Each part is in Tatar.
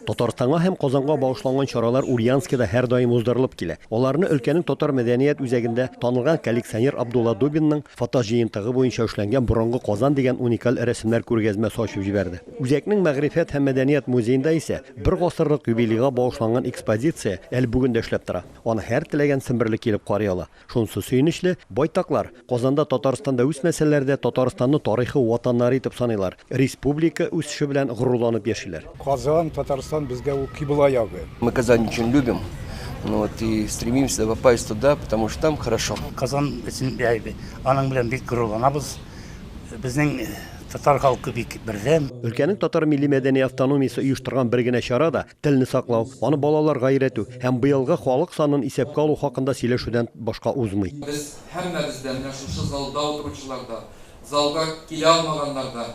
Татарстанга һәм Казанга багышланган чаралар Ульяновскида һәрдаим уздырылып килә. Аларны өлкәнең татар мәдәният үзәгендә танылган коллекционер Абдулла Дубинның фотоҗыентыгы буенча эшләнгән Борынгы Казан дигән уникаль рәсемнәр күргәзмәсе ачып җибәрде. Үзәкнең мәгърифәт һәм мәдәният музеенда исә бер гасырлык юбилейга багышланган экспозиция әле бүген дә эшләп тора. Аны һәр теләгән семберле килеп карый ала. Шунсы сөенечле, байтаклар, Казанда Татарстанда үсмәсәләр дә, Татарстанны тарихы ватаннары итеп саныйлар, республика үсеше белән горурланып яшиләр. Казан, Татарстан безгә ул кибла ягы. Мы Казань очень любим, ну вот и стремимся попасть туда, потому что там хорошо. Казан өчен аның белән бик горурланабыз. Безнең татар халкы бик бердәм. Өлкәнең татар милли-мәдәни автономиясе оештырган бер генә чара да, Телне саклау, аны балаларга өйрәтү һәм быелгы халык санын исәпкә алу хакында сөйләшүдән башка узмый. Без һәммәбез дә, менә шушы залда утыручылар да, залга килә алмаганнар да,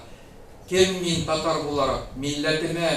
Кем мин татар буларак, милләтемә,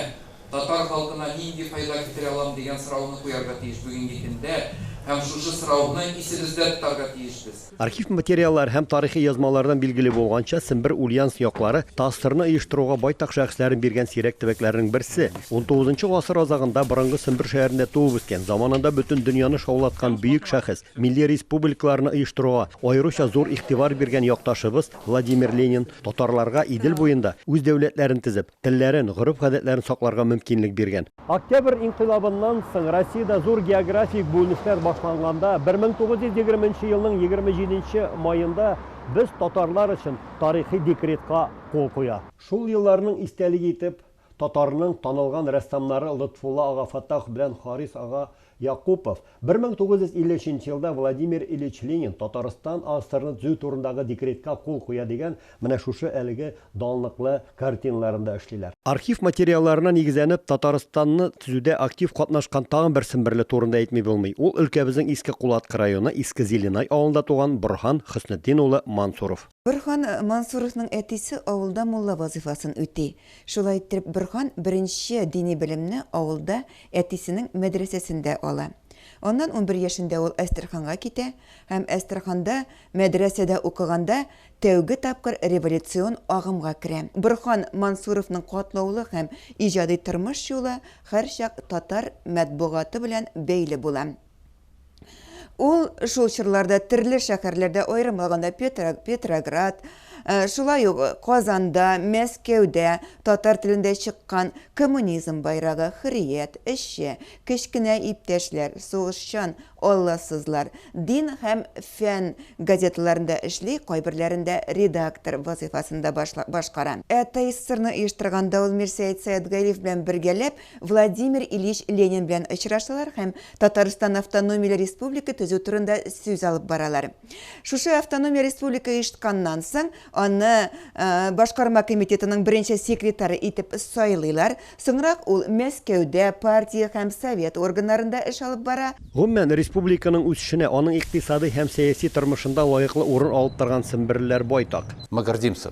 татар халкына нинди файда китерә алам дигән сорауны куярга тиеш бүгенге көндә һәм шушы сорауны исебездә тотарга тиешбез. Архив материаллары һәм тарихи язмалардан билгеле булганча, Сембер Ульяновск яклары ТАССРны оештыруга байтак шәхесләрен биргән сирәк төбәкләрнең берсе. Унтугызынчы гасыр азагында борынгы Сембер шәһәрендә туып үскән, заманында бөтен дөньяны шаулаткан бөек шәхес, милли республикаларны оештыруга аеруча зур игътибар биргән якташыбыз Владимир Ленин татарларга Идел буенда үз дәүләтләрен төзеп, телләрен, гореф-гадәтләрен сакларга мөмкинлек биргән. Октябрь инкыйлабыннан соң Россиядә зур географик бүленешләр башланганда, 1920 нче елның 27 нче маенда без татарлар өчен тарихи декретка кул куя. Шул елларның истәлеге итеп, татарның танылган рәссамнары Лотфулла ага Фаттах белән Харис ага Якупов, 1953 нче елда Владимир Ильич Ленин Татарстан АССРны төзү турындагы декретка кул куя дигән менә шушы әлеге данлыклы картиналарында эшлиләр. Архив материалларына нигезләнеп, Татарстанны төзүдә актив катнашкан тагын бер семберле турында әйтми булмый, ул өлкәбезнең Иске Кулаткы районы Иске Зеленай авылында туган Борһан Хөснетдин улы Мансуров. Борһан Мансуровның әтисе авылда мулла вазыйфасын үти. Шулай иттереп Борһан беренче дини белемне авылда әтисенең мәдрәсәсендә ала. Аннан унбер яшендә ул Әстерханга китә һәм Әстерханда мәдрәсәдә укыганда тәүге тапкыр революцион агымга керә. Борһан Мансуровның катлаулы һәм иҗади тормыш юлы һәрчак татар матбугаты белән бәйле була. Ул шул чорларда төрле шәһәрләрдә, аерым алганда Петроград, э, шулай ук Казанда, Мәскәүдә татар телендә чыккан Коммунизм байрагы, Хөррият, Эшче, Кечкенә иптәшләр, Сугышчан, Алласызлар, Дин һәм фән газеталарында эшли, кайберләрендә редактор вазыйфасын да башкара. Ә ТССРны оештырганда ул Мирсәет Сәетгалиев белән бергәләп Владимир Ильич Ленин белән очрашалар һәм Татарстан автономияле республика төзү турында сүз алып баралар. Шушы автономия республика оештканнан соң, аны башкарма комитетының беренче секретары итеп сайлыйлар. Соңрак ул Мәскәүдә партия һәм совет органнарында эш алып бара. Гомумән, республиканың үсешенә, аның икътисадый һәм сәяси тормышында лаеклы урын алып торган семберлеләр байтак. Мы гордимся,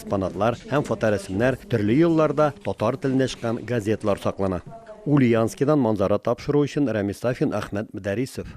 Экспонатлар һәм фоторәсемнәр төрле елларда татар телендә чыккан газеталар саклана. Ульяновскидан манзара тапшыру өчен Рәмис Сафин, Әхмәт Мөдәрисов.